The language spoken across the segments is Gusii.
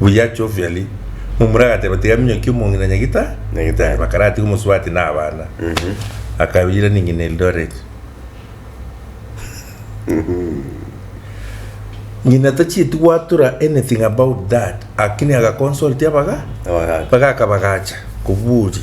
Buya Chovially, momura agateba, Tiga minyokie omong'ina na nyagita, nyagita aye bakaratiga omosubati na abana. Akayoira ning'ina Eldoret. Ng'ina tachieti gwatura anything about that, lakini agaconsultia abaga, Abagacha. bagaka bagacha kobua oria.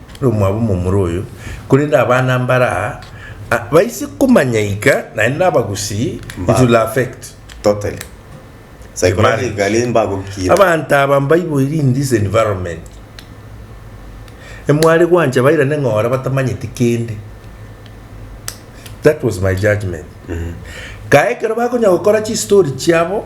omwabo omomura oyo, korende abana mbare aa baise komanya ika naende nabagusii it will affect Totally. Psychologically mbagokira. Abanto aba mbaiboirie in this environment emware gwancha bairane ng'ora batamanyeti kende that was my judgement kae ekero bakonya gokora chistory chiabo.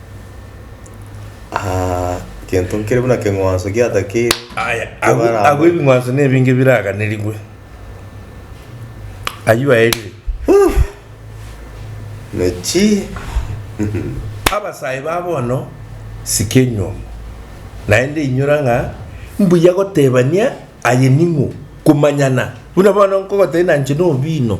Ah, gento nkere buna keng'wanso giatakeire. Aya, agwo Ebaramba. agwo ebing'wanso na ebinge biraganerigwe. Ayio aerire. Nachi. Abasae ba bono sike enyomo, naende inyora ng'a mbuya gotebania aye ning'o, komanyana. Buna bono nkogotebia na inche nobino.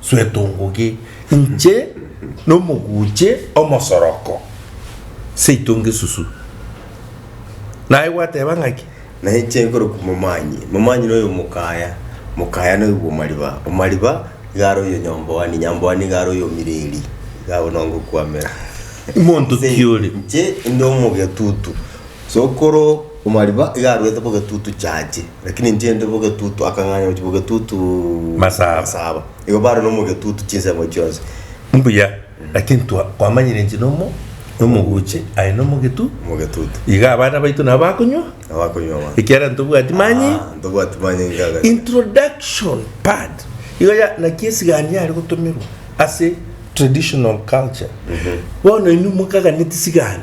Suetongoge, inche nomoguche omosoroko, seitonge susu. Naye gwateba ng'aki? Naye inche nkoroku momanyi, momanyi noyo mokaya, mokaya noyo bwomariba, omariba igare oyo nyomboani, nyamboani igare oyo omireri, igabo nongokwamera. Monto ki ore? Inche inde omogetutu, sokoro omariba iga arwete bogetutu chache. Lakini ntiende bogetutu, akang'anya gochia bogetutu Masaba. masaba. Igo bare nomogetutu chinsemo chionsi. Mbuya, lakini twa- kwamanyire inche nomo nomoguche aye nomogetu, Mogetutu. iga abana baito nabo bakonywa, Abakonywa ba. ekiagera ntobwati manyi. Ah, ntobwati manye ngaga. Introduction part igo ya naki esigani yare gotomerwa ase traditional culture. Bono inwe mokaganeti sigani.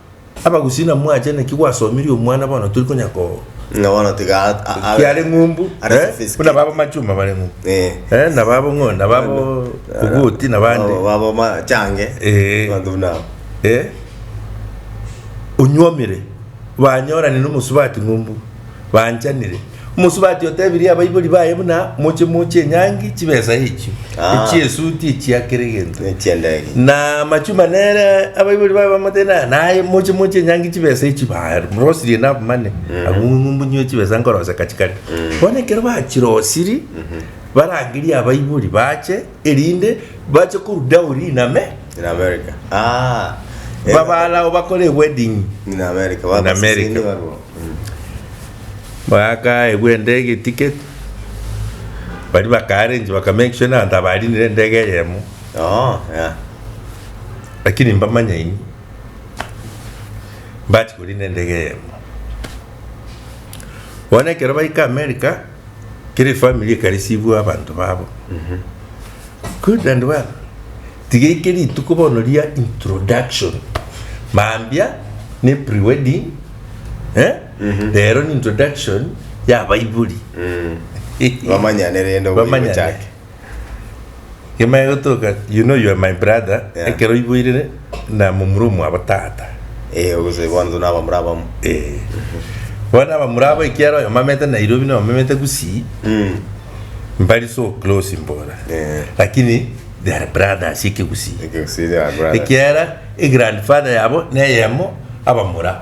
Abagusii na mwache naki gwasomirie omwana bono tori konya ko Ng'a bono tiga a- a- abe- kiare ng'umbu Are eh, sophisticated. buna babo machuma bare ng'umbu Eh. eh, na babo ng'o na babo ogoti na bande Babo- babo machange Eh. abanto buna abo. eh, onywomire banyorane nomosubati ng'umbu banchanire Omosubati otebirie abaibori baye buna moche moche enyangi chibesa echio, Ah. echiesuti echiakera egento. Echiendege. Na amachuma nere abaibori baye bamotena naye moche moche enyangi chibesa echio barosirie nabamane abungumbunyiwe chibesa nkoroseka chikare. Bono ekero bachirosirie barangerie abaibori bache erinde bache koruda oria in Ame, in America ah eh, babalao bakore ewedding in America in babaseseni America. barwo Mm. Baka egwa endege eticket, bari baka arrange baka make sure na abanto abarinire endege eyemo, oh yeah lakini mbamanya ini mbachi korina endege eyemo. Bono ekero baika America. Kera efamiri ekarisiibwa abanto babo. Good and well. Tiga eke rituko bono ria introduction. Mambia ne pre-wedding, eh? Rero ni introduction y'abaibori. Bamanyane rende oboigochake. Bamanyane. Kemanya gotoka you know you are my brother Yeah. ekero oiboirere na momura omwabo tata Eh, obosee bono tuna abamura abamo. Eh. bono abamura abo ekiara oyo mamete nairobi na omamete gusii Mm. mbari so close mbora Eh. lakini they are brothers ekegusii Ekegusii they are brothers. ekiara egrandfather yabo neyemo abamura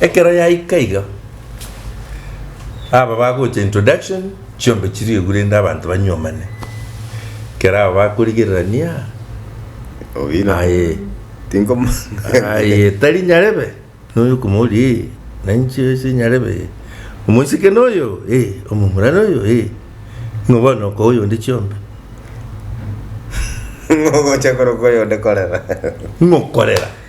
Ekero yaika iga, aba bagocha introduction, chiombe chiriegwe rende abanto banyuomane. Ekero aba bakorigererania, Obina. Aye. Tinkomo. aye tari nyarebe, noyo okomori, eh, nainche ase nyarebe, eh, omoiseke noyo, eh, omomura noyo, eh, ng'o bono okoa oyonde chiombe? Ng'o ogocha korokwa oyonde korera? Ng'o korera?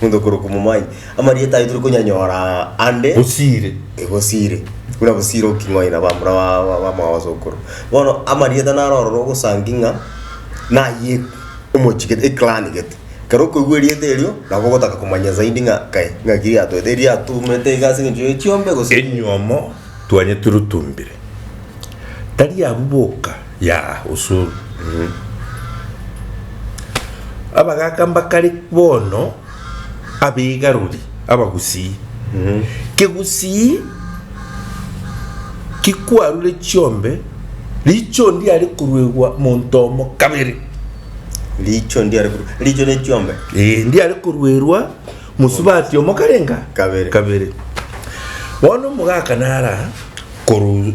Omonto okorokwa omomanyi. Amarieta aye tore konyanyora ande. Bosiire. E, bosiire. Buna bosiire oking'oina ba mura ba, ba, ba mwabasookoro. Bono amarieta naro ororo ogosangi ng'a naye omochie gete, eclan gete. Ekero okoigwa erieta erio, nabo ogotaka komanya zaidi ng'a kae, ng'aki riatoete, riatumete iga ase eng'encho ya echiombe gose. Enyomo twanyeturutumbire. Tari abwo boka. Ya usuru mm. Abagaka mbakare bono abegaruri abagusii mm. Kegusii kikwarure chiombe richo ndiare koruegwa monto omo kabere richo ndiare koru- richo ne chiombe Eh, ndiare koruerwa mosubati omo karenga Kabere. kabere bono omogaka nara koru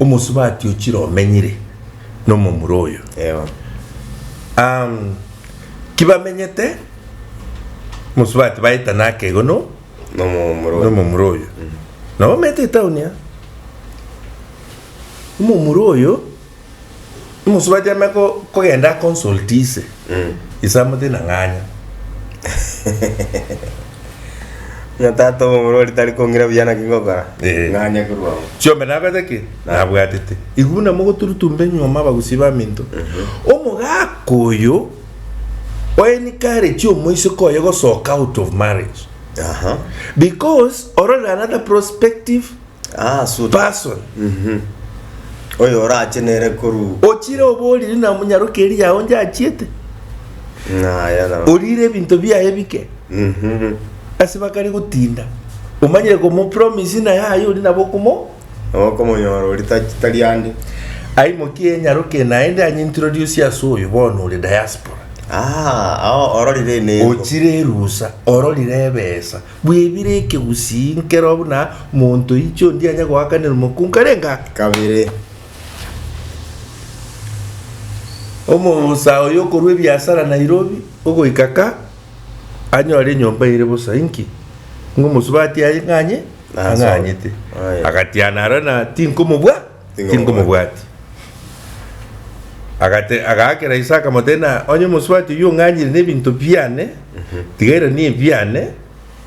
omosubati ochire omenyire nomomura oyo. Ewa. Ahm, kibamenyete omosubati baetana akego no Nomomura oyo. nomomura oyo. Nabo omete etauni aa. Omomura oyo Omosubachi ame ko- kogenda aconsulti ise, ise amote na ng'anya. Ng'a tata obo omorwari tari kong'ira buya naki ngokora? Eh. Ng'anya korwa oo. Chiombe nabete ki? Nabwatete. Igo buna mogoturutumbe nyuoma abagusi baminto. Omogaka oyo oencourage omoiseke oye gosoka out of marriage Aha. because ororere arather prospective Ah, suit. person Oyo orache nere koru. ochire oboriri na omonyaroke eria yao nje achiete Naya na. orire ebinto biaye bike Mhm. ase bakari gotinda omanyire komopromise naye aye ori nabo okomo Okomonyora ori ta- tari ande. aimokie enyaroke naende anyintiro riosi ase oyo bono ore diaspora Ah, ao ororire enengo. ochire erusa ororire ebesa Bwebire ekegusii nkero buna monto oiche ondia anya goakanera omokungu karenge ake. Kabere, omousa oyo okorua ebiasara Nairobi ogoika ka anyore enyomba ere bosa inki? Ng'omosubati aye ng'anye? Ang'anyete. Agatiana aroro na tinkomobua. Tingomobwati. Agate, agaakera ise akamoteena, Onye omosubati oyio ong'anyire nebinto biane, tiga erani ebiane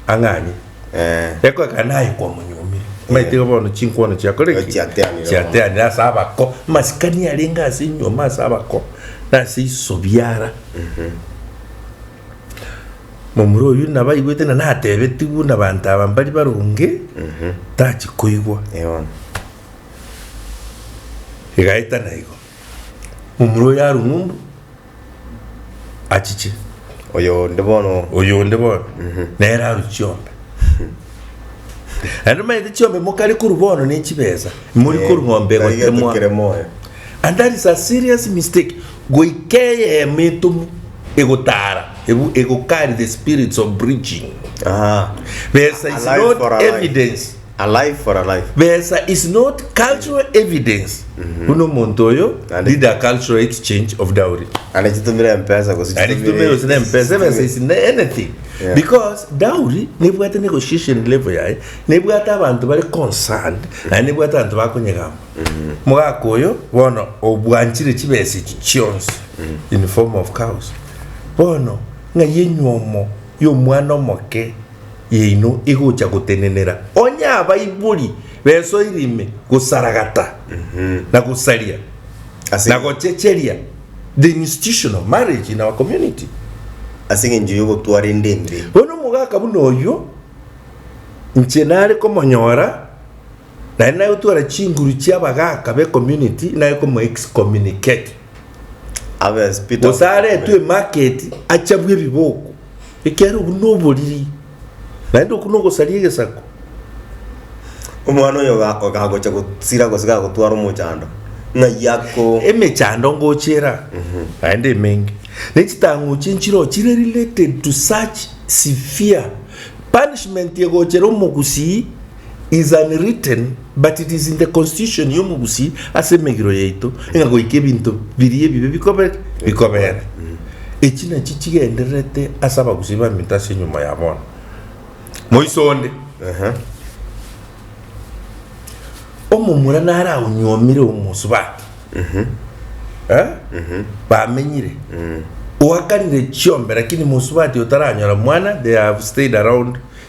ang'anye. Eh. Ekoeka naye kwamonyuomire. Maite iga bono chinkwono chiakore ki? Chiateanire. Chiateanire ase abako. Masikani arenge ase enyuoma ase abako, na ase isobiara. Momura oyio nabaigwete na natebetigwe na banto aba mbari baronge, tachi koigwa. Eono. Egaetana igo, momura oye arwe ng'umbu, achiche. Oyo onde bono. Oyo onde bono, nere arwe chiombe. Naende omanyete chiombe mokare korwa bono ne chibesa, mori korwa ng'ombe egotemwa. And that is a serious mistake. Goika eyemo etomu egotara, ego carry the spirits of breaching. Besa is not evidence. A life for a life. Besa is not cultural evidence buna omonto oyo Naende- did a cultural exchange of dowry. Naende chitumire empesa gose Naende chitumire gose na empesa ebesa is na- anything Yeah. because dowry nebwate negotiation level yaye nebwate abanto bare concerned naye nebwate abanto bakonyegamba mogaka oyo bono obwanchire chibesa echi chionsi in form of cows bono ng'ai enyomo yomwana omoke yaino egocha gotenenera, onye abaibori besoire ime gosaragata na gosaria Ase- na gochecheria the institution of marriage in our community. Ase eng'encho y'ogotwara ende embe. Bono omogaka buna oyio inche nare komonyora naende nare gotwara chinguru chia abagaka be community nare komo excommunicate Abe as Peter of gose aretwe Canterbury. emarket achabwe ebiboko. ekiagera obwo noboriri, naende okwo nogosaria egesaku. Omwana oyo oga- ogagocha gosira gose gagotwara omochando ng'ai ako emechando ngochera naende emenge nechitang'u chie nchiro chire related to such severe punishment egochera omogusii. is unwritten, but it is in the constitution y'omogusii ase emegiro yaito, ng'a goika ebinto biria ebibe bikobe bikobere. Echi nachi chigendererete ase abagusii baminto ase enyuma ya bono. Moiso onde, omomura nare aonyuomire omosubati, eh, bamenyire, oakanire chiombe, lakini mosubati otaranyora mwana, they have stayed around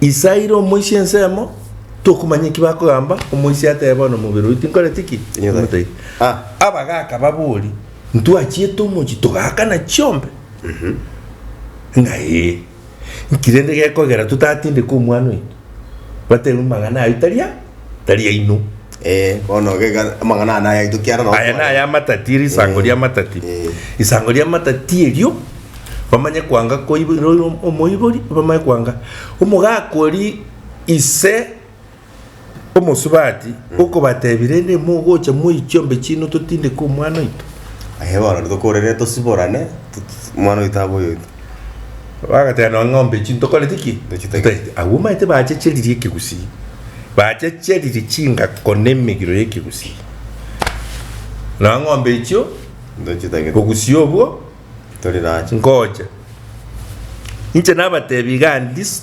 Ise aire omoisia ensemo, tokomanya eki bakogamba, omoisia atebe bono omobere oyio tinkoreti ki? Tinyotairi. Ah. Abagaka babori, ntwachiete omochi togakana chiombe? Ng'a ee. Nki rende gekogera totatindeke omwana oito? Batebe amang'ana ayio tari a? tari aino. Eh, bono gega amang'ana aya naye aito kiara Aya naye amatati eri isango ria amatati. Isango ria amatati erio bamanye kwanga koibo roiro omoibori bamanye kwanga omogaka ori ise omosubati okobatebi rende mogocha moichiombe chino totindeke omwana oito. Aye bono tokorere tosiborane omwana oito abe oyoito. Bagateba nonya ng'ombe echi ntokoreti ki? Ntochitagete. Agwo omanyete bachecheririe ekegusii. Bachecheririe chingako na emegiro y'ekegusii. Nonya ng'ombe echio. Ntochitagete. Obogusii obwo. Tori nacho. Ngocha. Inche nabatebi igaa this.